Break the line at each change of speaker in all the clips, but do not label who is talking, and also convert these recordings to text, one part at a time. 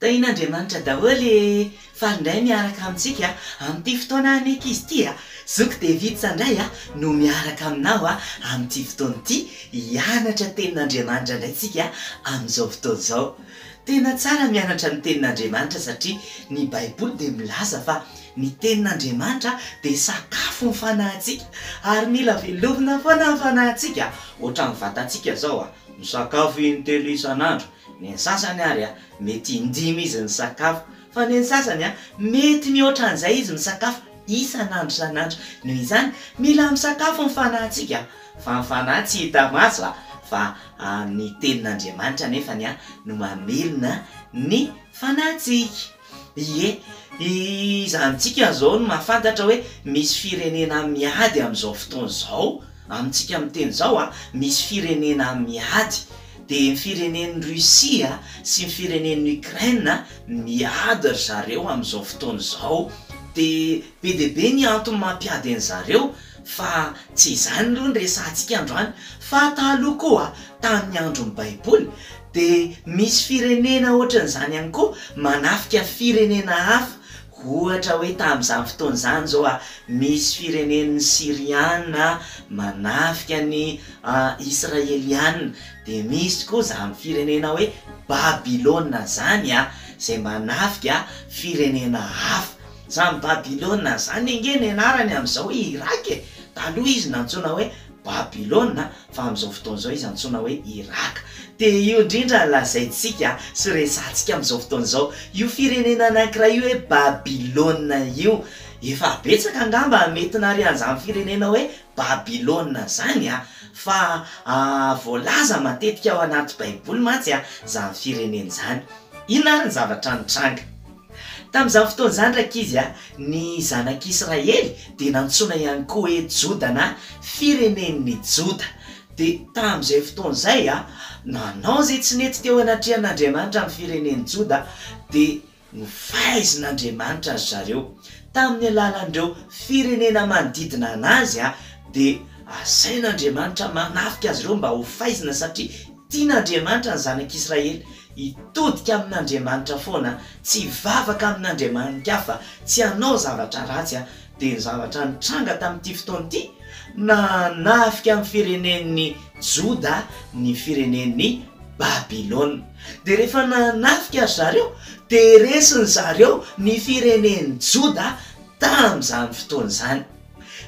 Tahian'Andriamanitra daholo e! Faly indray miaraka amintsika amin'ity fotoana aneka izy ity a! Zoky David Sandrahy no miaraka aminao amin'ity fotoana ity, hianatra tenin'Andriamanitra indray tsika amin'izao fotoana izao. Tena tsara ny mianatra ny tenin'Andriamanitra satria ny baiboly dia milaza fa ny tenin'Andriamanitra dia sakafo ny fanahintsika ary mila velomina foana ny fanahintsika ohatran'ny vatantsika izao a! Misakafo in-telo isan'andro, ny sasany ary mety in-dimy izy misakafo, fa ny sasany mety mihoatra an'izay izy misakafo isan'andro isan'andro. Noho izany, mila misakafo ny fanahintsika, fa ny fanahy tsy hita maso, fa ny Tenin'Andriamanitra anefa no mamelona ny fanahintsika. Ie, iza amintsika izao no mahafantatra hoe misy firenena miady amin'izao fotoana izao? Amintsika miteny izao a, misy firenena miady. Dia ny firenen'i Russie sy ny firenen'i Ukraine miady ry zareo amin'izao fotoana izao. Dia be dia be ny antony mampiady an'i zareo. Fa tsy izany aloha no resahantsika androany fa taloha koa tamin'ny andron'ny baiboly dia misy firenena ohatran'izany ihany koa manafika firenena hafa ohatra hoe tamin'izany fotoana izany izao a misy firenen'ny syriana manafika ny israeliana dia misy koa izany firenena hoe babilona izany a izay manafika firenena hafa Zany Babylona zany ange ny anarany amin'izao i Irak e! Taloha izy nantsoina hoe Babylona fa amin'izao fotoana izao izy antsoina hoe Irak. Dia io indrindra no lazaintsika sy resahantsika amin'izao fotoana izao. Io firenena anankiray hoe Babylona io. Efa betsaka angamba ny mety narian'izany firenena hoe Babylona izany fa voalaza matetika ao anaty baiboly mantsy izany firenena izany. Inona ary ny zavatra nitranga? Tamin'izany fotoana izany, rankizy a, ny zanak'Israely dia nantsoina ihany koa hoe Joda na firenen'ny Joda. Dia tamin'izay fotoana izay, nanao izay tsy nety teo anatrehan'Andriamanitra ny firenen'i Joda, dia nofaizin'Andriamanitra ry zareo. Tamin'ny alalan'ireo firenena manodidina anazy dia asain'Andriamanitra manafika azy ireo mba hofaizina satria tian'Andriamanitra ny zanak'Israely. Hitodika amin'Andriamanitra foana, tsy hivavaka amin'andriamani-kafa, tsy hanao zavatra ratsy, dia ny zavatra nitranga tamin'ity fotoana ity, nahanafika amin'ny firenen'ny Joda ny firenen'i Babylona. Dia rehefa nahanafika ry zareo, dia resy ry zareo ny firenen'i Joda tamin'izany fotoana izany.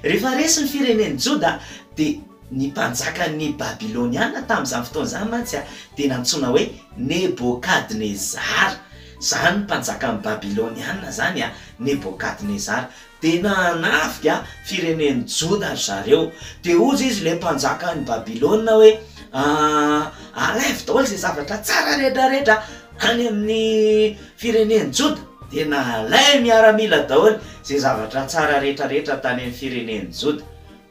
Rehefa resy ny firenen'i Joda, dia. Ny mpanjakan'ny Babyloniana tamin'izany fotoana izany mantsy dia nantsoina hoe Nebokadnezara. Izany mpanjakan'ny Babyloniana izany, Nebokadnezara, dia nanafika firenen'i Joda ry zareo. Dia hozy izy ilay mpanjakan'i Babylona hoe, Alaivo daholo izay zavatra tsara rehetrarehetra any amin'ny firenen'i Joda. Dia nalain'ny miaramila daholo izay zavatra tsara rehetrarehetra tany amin'ny firenen'i Joda.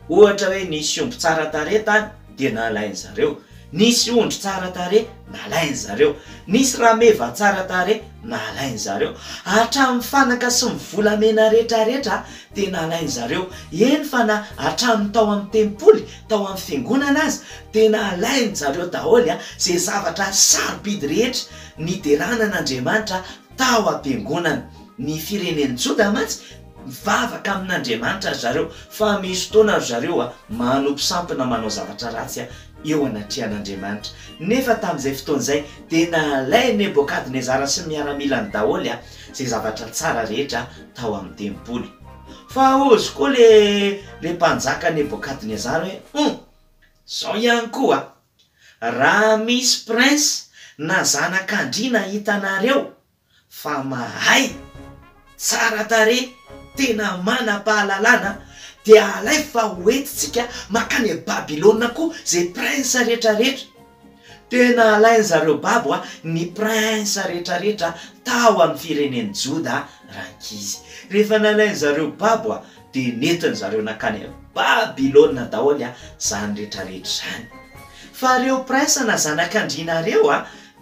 Ohatra hoe nisy omby tsara tarehy tany dia nalain-dry zareo. Nisy ondry tsara tarehy, nalain-dry zareo. Nisy rameva tsara tarehy, nalain-dry zareo. Hatramin'ny fanaka sy ny volamena rehetrarehetra dia nalain-dry zareo. Eny fa na hatramin'ny tao amin'ny tempoly, tao amin'ny fiangonana aza dia nalain-dry zareo daholo izay zavatra sarobidy rehetra niderana an'Andriamanitra Tao am-piangonana, ny firenen'ny Joda mantsy, mivavaka amin'Andriamanitra ry zareo, fa misy fotoana ry zareo manompo sampona manao zavatra ratsy eo anatrehan'Andriamanitra. Nefa tamin'izay fotoana izay, dia nalain'i Nebokadnezara sy ny miaramilany daholo izay zavatra tsara rehetra tao amin'ny tempoly. Fa ozy koa ilay Mpanjaka Nebokadnezara hoe, Humph! Izao ihany koa! Raha misy prince na zanakandriana hitanareo fa mahay, tsara tarehy, tena manam-pahalalana dia alaivo fa ho entintsika makany Babylona koa zay prince rehetra rehetra. Tena alain zareo babo a ny prince rehetra rehetra tao am firenen'i Joda rankizy. Rehefa nalain zareo babo a dia nentiny zareo nankany avy Babylona daholo zany rehetra rehetra zany. Fa reo prince na zanak andriana reo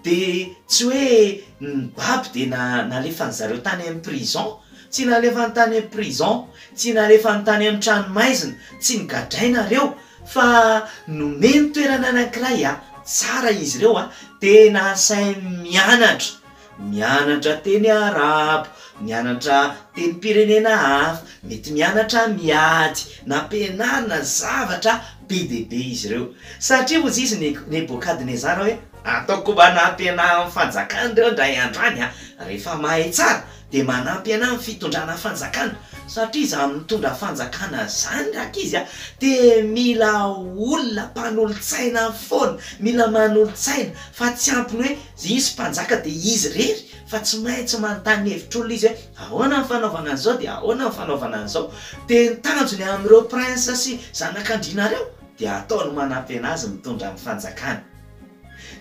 dia tsy hoe nibaby dia na nalefany zareo tany am prison, tsy nalefany tany am prison, tsy nalefany tany am trano maizina, tsy nogadraina reo fa nomeny toerana anankiray tsara izy reo dia nasainy mianatra Mianatra teny arabo, mianatra tenim-pirenena hafa, mety mianatra miady, nampianarina ny zavatra be dia be izy ireo. Satria hoy izy Nebokadnezara hoe, Ataoko mba hanampy anà amin'ny fanjakana ireo indray andro any aho. Rehefa mahay tsara, dia manampy anà amin'ny fitondrana fanjakana. Satria izany mitondra fanjakana izany, rankizy a, dia mila olona mpanolo-tsaina foana, mila manolo-tsaina, fa tsy ampy ny hoe Izy mpanjaka dia izy irery fa tsy maintsy manontany hevitr'olona izy hoe ahoana ny fanaovana an'izao dia ahoana ny fanaovana an'izao. Dia ny tanjony amin'ireo princes sy zanak'andriana ireo dia ataony manampena azy mitondra ny fanjakany.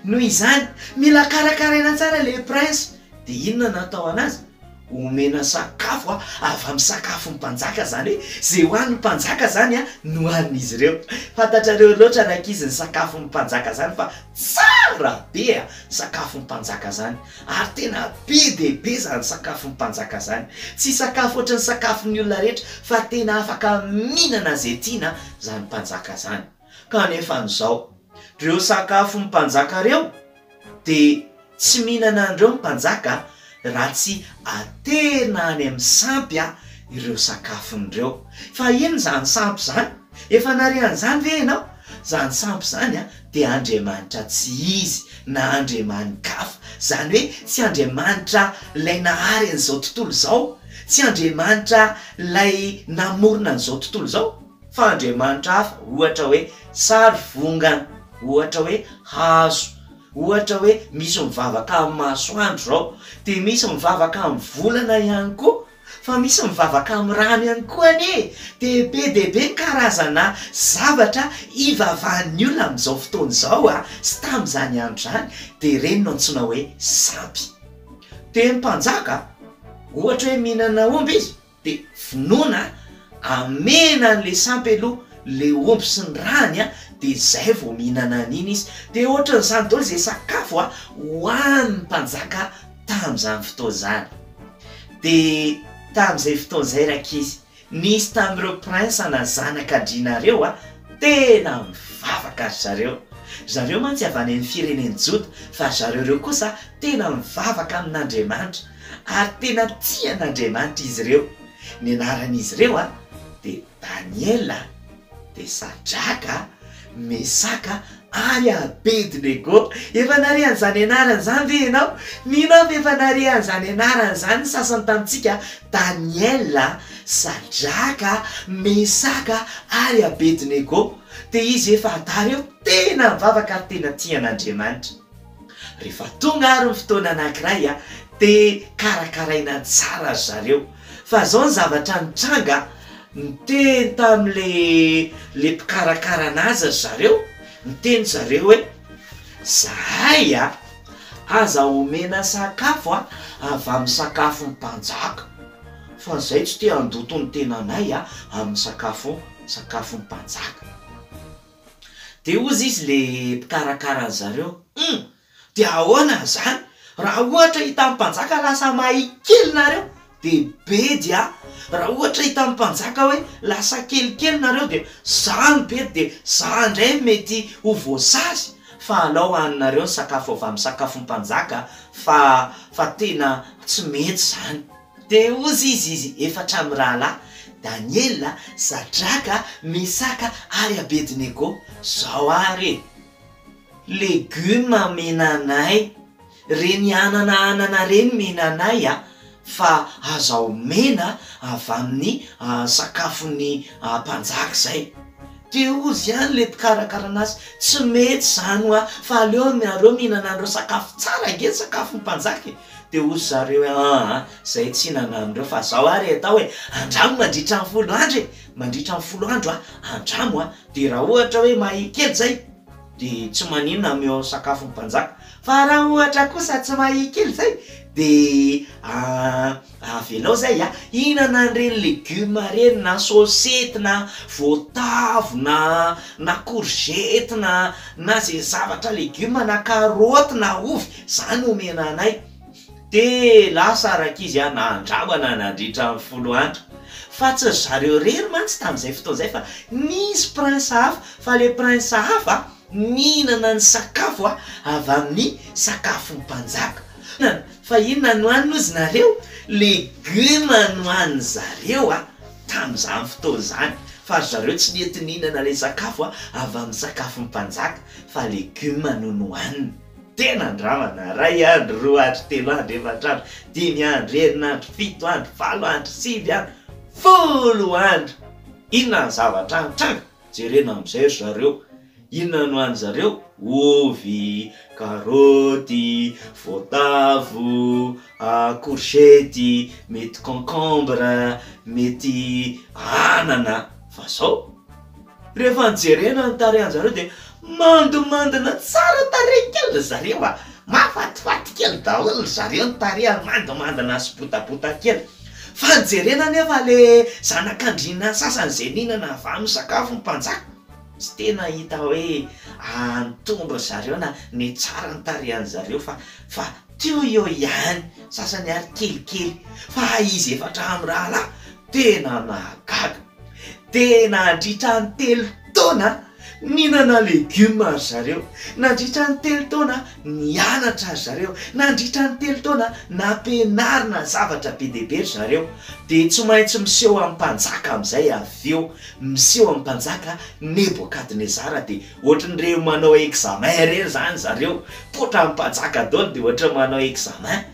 Noho izany, mila karakaraina tsara ilay prince. Dia inona no atao an'azy? Omena sakafo avy amin'ny sakafon'ny mpanjaka izany hoe izay ho an'ny mpanjaka izany no hanin'izy ireo. Fantatrareo loatra rankizy ny sakafon'ny mpanjaka izany fa tsara be a! Sakafon'ny mpanjaka izany ary tena be dia be izany sakafon'ny mpanjaka izany. Tsy sakafo ohatran'ny sakafon'ny olona rehetra fa tena afaka mihinana izay tiana izany mpanjaka izany. Kanefa an'izao, reo sakafon'ny mpanjaka reo dia tsy mihinana an'ireo ny mpanjaka raha tsy aterina any amin'ny sampy ireo sakafony ireo. Fa inona izany sampy izany? Efa nare an'izany ve ianao? Izany sampy izany dia andriamanitra tsy izy na andriamani-kafa. Izany hoe tsy andriamanitra ilay nahary an'izao tontolo izao, tsy andriamanitra ilay namorona an'izao tontolo izao. Fa andriamanitra hafa, ohatra hoe sary vongana, ohatra hoe hazo, ohatra hoe misy mivavaka amin'ny masoandro izao, dia misy mivavaka amin'ny volana ihany koa, fa misy mivavaka amin'ny rano ihany koa anie e! dia be dia be ny karazana zavatra ivavahan'ny olona amin'izao fotoana izao a! sy tamin'izany andro izany, dia ireny no antsoina hoe sampy. Dia ny mpanjaka, ohatra hoe mihinana omby izy, De vonoina a, amena an'le sampy aloha le omby sy ny rany a, de zay vao mihinana an'iny izy, de ohatran'izany daholo zay sakafo a hohanin'ny mpanjaka tamin'izany fotoana zany, de tamin'izay fotoana izay rankizy nisy tamin'ireo prince na zanak'andriana ireo a tena mivavaka ry zareo, ry zareo mantsy avy any amin'ny firenen'i joda fa ry zareo ireo kosa tena mivavaka amin'Andriamanitra, Ary tena tia an'Andriamanitra izy ireo. Ny anaran'izy ireo dia Daniela, dia Sadraka, Mesaka ary Abedinego. Efa nare an'izany anarana izany ve ianao? Mino aho fa efa nare an'izany anarana izany ny sasany tamintsika, Daniela, Sadraka, Mesaka ary Abedinego. Dia izy efa adala eo, tena nivavaka ary tena tia an'Andriamanitra. Rehefa tonga ary ny fotoana anankiray dia karakaraina tsara ry zareo. Fa izao ny zavatra nitranga, niteny tamin'ilay mpikarakara an'azy ry zareo, niteny ry zareo hoe zahay a, aza omena sakafo a, avy amin'ny sakafon'ny mpanjaka, fa izay tsy te handoto ny tenanay amin'ny sakafo, sakafon'ny mpanjaka. Dia hozy izy le mpikarakara an zareo, humm! Dia ahoana zany raha ohatra hitan'ny mpanjaka lasa mahay kely nareo de bedy a! Raha ohatra hitan'ny mpanjaka hoe lasa kelikely nareo dia za no bedy de za ndray no mety ho voasazy fa alao haninareo ny sakafo avy amin'ny sakafon'ny mpanjaka fa fa tena tsy mety zany. Dia hozy izy izy efatra mirahalahy, Daniela, Sadraka, Mesaka ary Abednego, Zao ary e! Legioma amena anay, reny anana anana reny mena anay a! Fa aza omena avy amin'ny sakafon'ny mpanjaka izay. Dia hozy ihany ilay mpikarakara anazy, Tsy mety izany hoa, fa aleo ianareo mihinana an'ireo sakafo tsara ange ny sakafon'ny mpanjaka e! Dia hozy zareo hoe, aa, izay tsy nandramo ireo fa izao ary atao e, andramo mandritra ny folo andro e, mandritra ny folo andro a, andramo a, dia raha ohatra hoe mahia kely izay dia tsy maninona ameo sakafon'ny mpanjaka, fa raha ohatra kosa tsy mahia kely izay dia avelao izay a, hihinana an'ireny legioma ireny na sôsety na voatavo na na korzety na na izay zavatra legioma na karaoty na ovy. Za no omena anay. Dia lasa rankizy aho nandramana nandritra ny folo andro. Fa tsy ry zareo irery mantsy tamin'izay fotoana izay fa nisy prince hafa. Fa ilay prince hafa nihinana ny sakafo avy amin'ny sakafon'ny mpanjaka. Fa inona no hanina ozy nareo? Legume no hanin'ny zareo tamin'izany fotoana izany. Fa ry zareo tsy nety nihinana ilay sakafo avy amin'ny sakafon'ny mpanjaka fa legume no nohaniny. Tena andramana, ray andro, roa andro, telo andro, efatra andro, dimy andro, enina andro, fito andro, valo andro, sivy andro, folo andro! Inona ny zavatra nitranga? Jerena amin'izay ry zareo. Inona no hanin-dry zareo? Ovy, karaoty, voatavo, courgette, mety concombre, mety anana, fa zao. Rehefa jerena ny tarehanjareo dia mandimandina tsara tarehy kely ry zareo a! Mahafatifaty kely daholo ry zareo ny tarehy ary mandimandina sy botabota kely. Fa ny jerena anefa le zanakandriana sasany zay mihinana avy amin'ny sakafo ny mpanjaka, tsy tena hita hoe antombo ry zareo na nitsara ny tarehanjareo fa fa teo eo ihany, sasany ary kelikely. Fa izy efatra mirahalahy tena nahagaga. Dia nandritra ny telo taona nihinana legioma ry zareo, nandritra ny telo taona nianatra ry zareo, nandritra ny telo taona nampianarina zavatra be dia be ry zareo, dia tsy maintsy miseho amin'ny mpanjaka amin'izay avy eo, miseho amin'ny mpanjaka Nebokadnezara, dia ohatran'ireny manao examen ireny izany ry zareo, poitra amin'ny mpanjaka daholo dia ohatran'ny manao examen.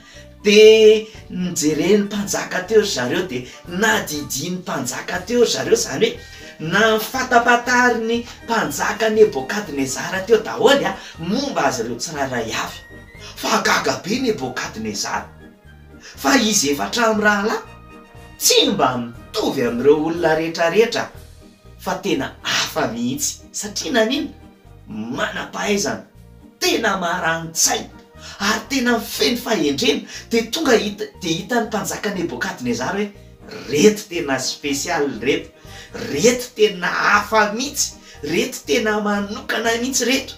Dia nojeren'ny mpanjaka teo ry zareo dia nadidian'ny mpanjaka teo ry zareo, izany hoe nahafantampatarin'ny mpanjaka Nebôkadnezara teo daholo momba azy ireo tsirairay avy. Fa gaga be Nebôkadnezara, fa izy efatra mirahalahy tsy mba mitovy amin'ireo olona rehetrarehetra fa tena hafa mihitsy. Satria nanina? manam-pahaizana, tena marani-tsaina ary tena feno fahendrena dia tonga dia hitan'ny mpanjaka Nebokadnezara hoe, Reto tena special reto, reto tena hafa mihitsy, reto tena manokana mihitsy reto.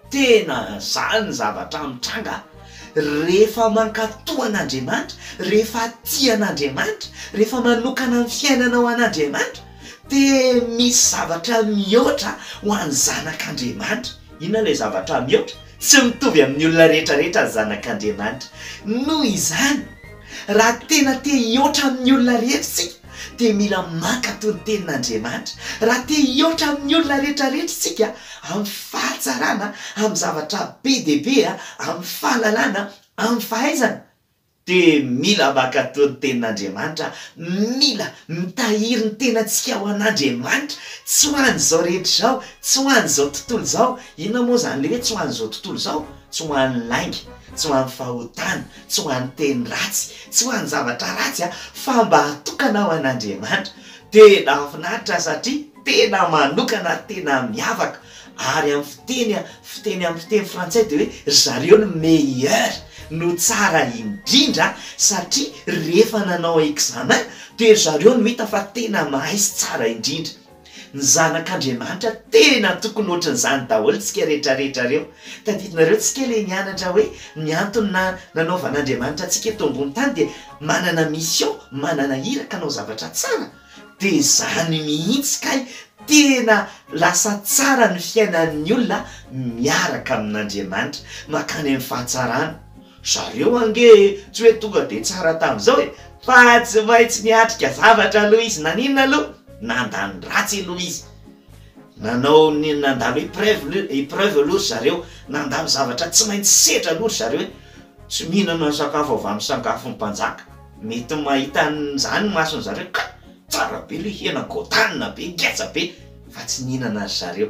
Tena zany ny zavatra mitranga rehefa mankato an'Andriamanitra, rehefa tia an'Andriamanitra, rehefa manokana ny fiainanao an'Andriamanitra. Dia misy zavatra mihoatra ho an'ny zanak'Andriamanitra. Inona ilay zavatra mihoatra? Tsy mitovy amin'ny olona rehetrarehetra ny zanak'Andriamanitra. Noho izany, raha tena te hihoatra amin'ny olona rehetra isika, dia mila mankatò ny Tenin'Andriamanitra. Raha te hihoatra amin'ny olona rehetrarehetra isika, amin'ny fahatsarana, amin'ny zavatra be dia be, amin'ny fahalalana, amin'ny fahaizana, Dia mila mankatò ny Tenin'Andriamanitra, mila mitahiry ny tenantsika ho an'Andriamanitra, tsy ho an'izao rehetra izao, tsy ho an'izao tontolo izao. Inona moa izany ilay hoe tsy ho an'izao tontolo izao? Tsy ho an'ny lainga, tsy ho an'ny fahotana, tsy ho an'ny teny ratsy, tsy ho an'ny zavatra ratsy, fa mba hatokana ho an'Andriamanitra. Dia nahafinaritra satria tena manokana ary tena miavaka ary amin'ny fiteny fiteny amin'ny fiteny frantsay dia hoe ry zareo no meilleur no tsara indrindra satria rehefa nanao examen dia ry zareo no hita fa tena mahay sy tsara indrindra ny zanak'Andriamanitra tena tokony ohatran'izany daholo tsika retraretra ireo tadidinareo tsika le nianatra hoe ny antony na nanaovan'Andriamanitra antsika eto ambony tany dia manana mission manana iraka hanao zavatra tsara De zany mihitsy kay tena lasa tsara ny fiainan'ny olona miaraka amin'Andriamanitra, makany amin'ny fahatsarana. Zareo ange tsy hoe tonga de tsara tamin'izao e, fa tsy maintsy niatrika zavatra aloha izy, naninona aloha? nandany ratsy aloha izy, nanao ny nandalo épreuve lo- épreuve aloha ry zareo, nandalo zavatra tsy maintsy setra aloha ry zareo e, tsy mihinana sakafo avy amin'ny sakafon'ny mpanjaka. Mety mahita an'izany ny mason'ny zareo ka tsara be le hena godanina be ngeza be fa tsy nihinana ry zareo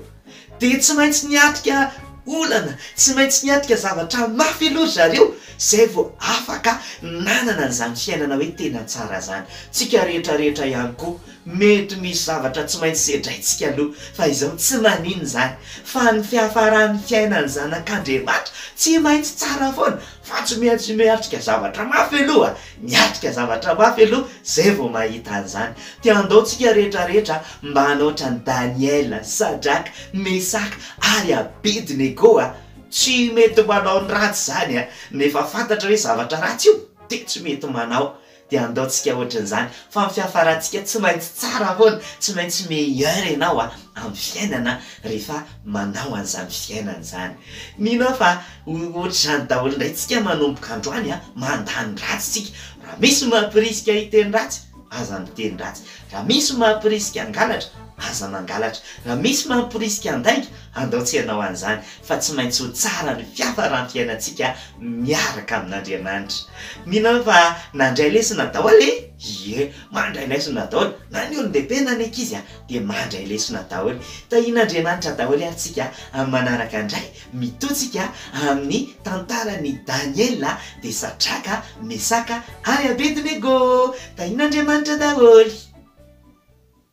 de tsy maintsy niatrika olana tsy maintsy niatrika zavatra mafy aloha ry zareo zay vao afaka nanana an'izany fiainana hoe tena tsara zany, tsika rehetra rehetra ihany koa mety misy zavatra tsy maintsy sedraintsika aloha fa izao tsy maninona zany fa ny fiafaran'ny fiainan'ny zanak'Andriamanitra tsy maintsy tsara foana Fa tsy maintsy miatrika zavatra mafy aloha, miatrika zavatra mafy aloha zay vao mahita an'izany. Dia andao tsika rehetra rehetra mba hanao ohatran'i Daniela, Sadraka, Mesaka ary Abednego a! Tsy mety manao ny ratsy izany a! Nefa fantatra hoe zavatra ratsy io dia tsy mety manao. Dia andaontsika ohatran'izany fa ny fiafarantsika tsy maintsy tsara foana, tsy maintsy meilleur ianao a, amin'ny fiainana rehefa manao an'izany fiainana izany. Mino aho fa ho ohatr'izany daholo indray tsika manomboka androany a, mandany ratsy tsika, raha misy mampirisika hiteny ratsy, aza miteny ratsy, raha misy mampirisika hangalatra, aza mangalatra, raha misy mampirisika handainga, Andao tsy hanao an'izany, fa tsy maintsy ho tsara ny fiafaram-piainantsika miaraka amin'Andriamanitra. Mino aho fa nandray lesona daholo e! Ie, mandray lesona daholo, na ny olon-dehibe na ny ankizy dia mandray lesona daholo. Tahian'Andriamanitra daholo ary tsika amin'ny manaraka indray, mitoa tsika amin'ny tantaran'i Daniela, dia Satraka, Mesaka ary Abednego! Tahian'Andriamanitra daholo.